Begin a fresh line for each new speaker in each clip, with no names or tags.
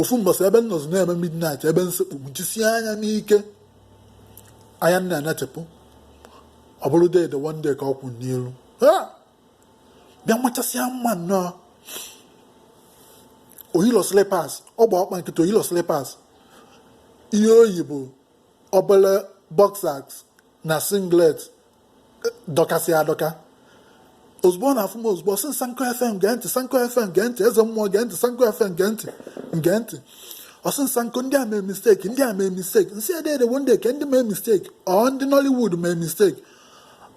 ofu mbọsị ebe m nọzi na-eme midnight ebe m sekpu jisie anya n'ike anya m na-enetepụ ọ bụrụ Dede One Day ka ọ kwụ n'iru bịa machasịa mma nnọọ o yilo slippers ọ gba ọkpa nkịtị o yilo slippers ihe o yi bụ obere boxers na singlet dọkasị adọka ozugbo ọ na-afụ m ozugbo ọ sị Sanko FM gee ntị Sanko FM gee ntị eze mmụọ gee ntị Sanko FM gee ntị gee ntị ọ sị Sanko ndị a mee mistake ndị a mee mistake m sị Dede One Day kee ndị mee mistake ọ ndị Nollywood mee mistake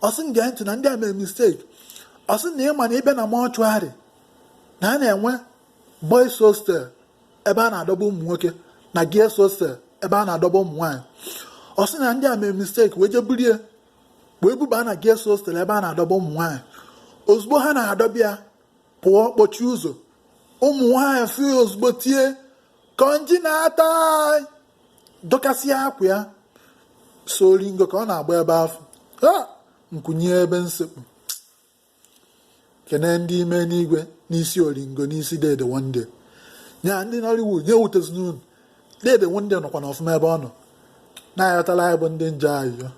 ọ sị m gee ntị na ndị a mee mistake ọ sị na ị ma na ị bịa na mortuary na a na-enwe boys hostel ebe a na-adọba ụmụ nwoke na girls hostel ebe a na-adọba ụmụ nwaanyị ọ sị na ndị a mee mistake wee jee buru ya wee buba na girls hostel ebe a na-adọba ụmụ nwaanyị ozugbo ha na-adọba ya pụọ kpọchie ụzọ ụmụ nwaanyị fụ ya ozugbo tie konji na-ata dọkasịa akwa ya sọ oringo ka ọ na-agba ebe afụ m kunie ebe m sekpu kene ndị ime enigwe n'isi oringo n'isi Dede One Day nya ndị Nollywood nya ewutezina unu Dede One Day nọkwa na ọfụma ebe ọ nọ na-ayọtala anyị bụ ndị njọ ayịyọ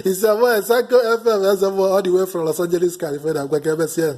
It's your boy, Sanko FM, Eze Mmụọ, all the way from Los Angeles, California. I'm going to